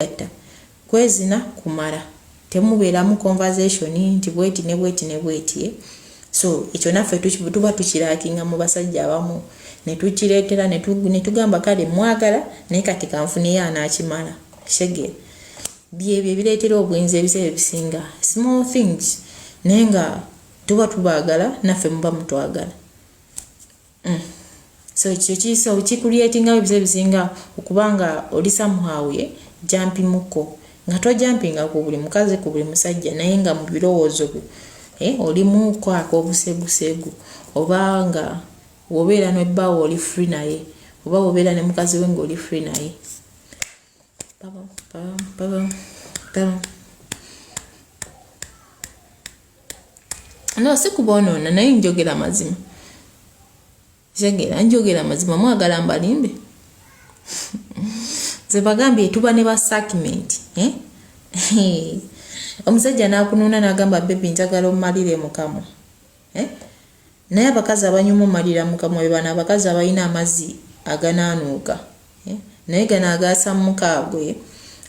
kwegatta kwezina kumala temubeeramu conversation nti bweti ne bweti ne bweti eh? so ekyo naffe tuba tukirakinga mu basajja abamu netukireetera netugamba kale mwagala naye kati kanfuneyo anakimala shege byebyo ebireetera obwenzi ebiseera ebisinga small things naye nga tuba tubaagala naffe muba mutwagala mm. so ekyo kiso kikuliatinga ebize bisinga okuba nga oli somehow ye jampi muko nga tojampinga ku buli mukazi ku buli musajja naye nga mu birowoozo byo eh, olimu kwaka obusegusegu oba nga wobeera nebbaawo oli free naye oba wobeera ne mukazi we nga oli free naye Bubble, bubble, bubble, bubble. no si kuboonoona naye njogera mazima kitegeera njogera mazima mwagala mbalimbe nze bagambye tuba ne basakimenti eh? omusajja nakunuuna nagamba bebi njagala omumalire mukamwa eh? Naye abakazi abanywa omumalira mukamwa be bano abakazi abalina amazi aganaanuuka eh? naye gano agaasa mukaabwe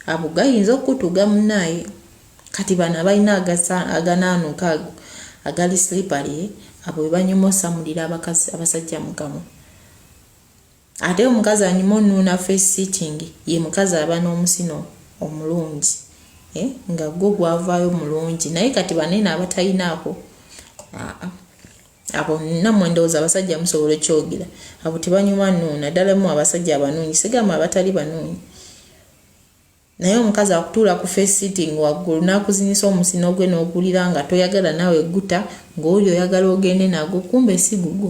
abo gayinza okutuga munaye kati bano abalina aganaanuuka ago agali slippery eh? abo bebanyuma osamulira abakazi abasajja mukamwa Ate omukazi anyuma onuuna face sitting ye mukazi aba n'omusino omulungi eh, nga gwo gwavaayo mulungi naye kati banene abatayinaako aa abo namwe ndowooza abasajja musobola okyogera abo tebanyuma nuuna ddala mu abasajja abanuunyi sigamba abatali banuunyi Naye omukazi akutuula ku face sitting waggulu n'akuzinyisa omusino gwe n'okuwulira nga toyagala nawe guta ng'oli oyagala ogende nagwo kumbe si gugwo.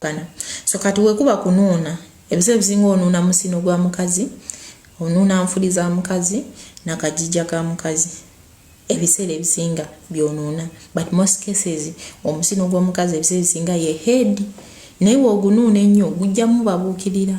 Bana. So kati wekuba kunuuna ebiseera ebisinga onuuna musino gwa mukazi onuuna nfuli za mukazi na kajija ka mukazi ebiseera ebisinga byonuuna but most cases omusino gw'omukazi ebiseera ebisinga ye head naye wogunuuna ennyo gujja mubabuukirira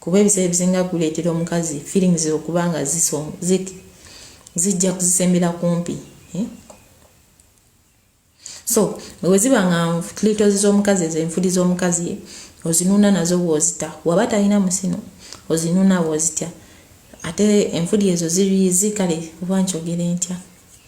kuba ebiseera ebisinga guleetera omukazi feelings okuba nga zijja kuzisembera kumpi eh? so weweziba nga klitozi z'omukazi ezo enfuli z'omukazi ozinuna nazo bwozita waba talina musino ozinuna bwozitya ate enfuli ezo ziriizi kale oba nkyogere ntya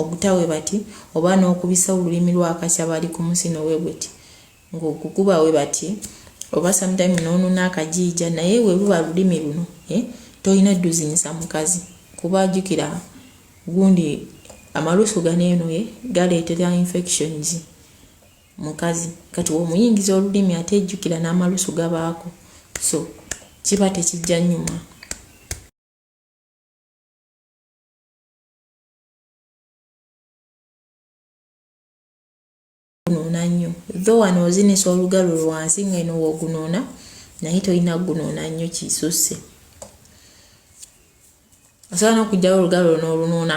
ogutawe bati oba n'okubisa olulimi lwa kasabali ku musino we buti ng'ogukuba we bati oba sometime n'onuna akajiija naye we luba lulimi luno eh, tolina duzinyisa mukazi kuba ajukira gundi amalusu gano eno ye eh, galeetera infections mukazi kati womuyingiza olulimi ate ejjukira n'amalusu gabaako so kiba tekijja nyuma gunuuna nnyo tho wano ozinisa olugalo lwansi nga eno wogunuuna naye tolina kugunuuna nnyo kisusse osobola n'okugyawo olugalo luno olunuuna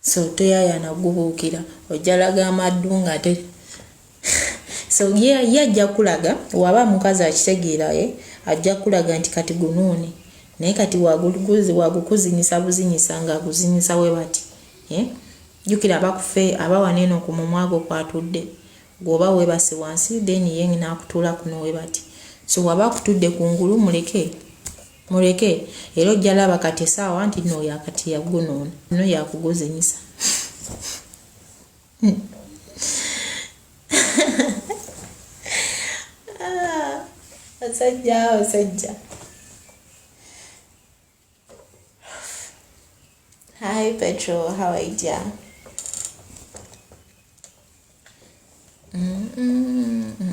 So toyayana gubuukira ojja laga amaddu ngate so ye ajja kulaga waba mukazi akitegeera ye ajja kulaga nti kati gunuuni naye kati wagukuzinyisa buzinyisa nga aguzinyisa we bati eh? jukira abakufe abawa neeno ku mumwa gwo kwatudde gwoba webase wansi then ye nakutuula kuno we bati so waba akutudde ku ngulu muleke Muleke era ojja laba kati esaawa nti no oyo akati yagunoona no yakuguzinyisa basajja ah, basajja Hi Petro, how are you dear? Mm -mm -mm.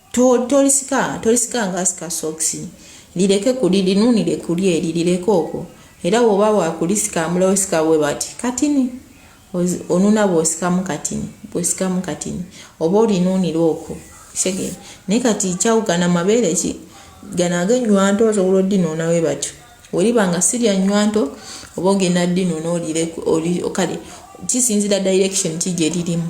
To, tolisika tolisika nga asika sokisi lireke kuli linunire kuli eri lireke okwo era woba wakulisika amula osika bwe bati katini onuna bwosikamu katini bwosikamu katini oba olinunira okwo kitegeera naye kati kyawukana mabeere ki gano ag'ennywanto osobola oddinuuna bwe batyo weriba nga si lya nnywanto oba ogenda ddinuuna olire kale kisinzira direction ki gye lirimu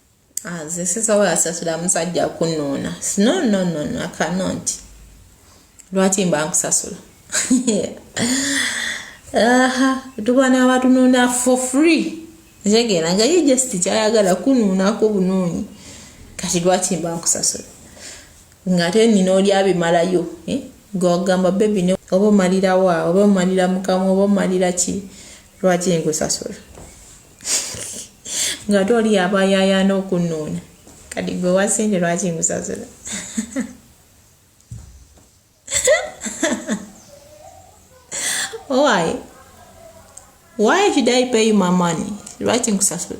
nze sisobola sasula musajja kunuuna no no no no akanonti lwaki mba nkusasula aha tubana abatununa for free ntegera nga ye just kyayagala kunuunako bunuunyi kati lwaki mba nkusasula ngate nina oli abimalayo eh? gwagamba bebi ne oba omalirawa oba omalira mukamu oba omalira ki lwaki nkusasula ng'ate oli yaba yayaana okunnuuna kati gwe wasente lwaki ngusasula why why should i pay you my money lwaki ngusasula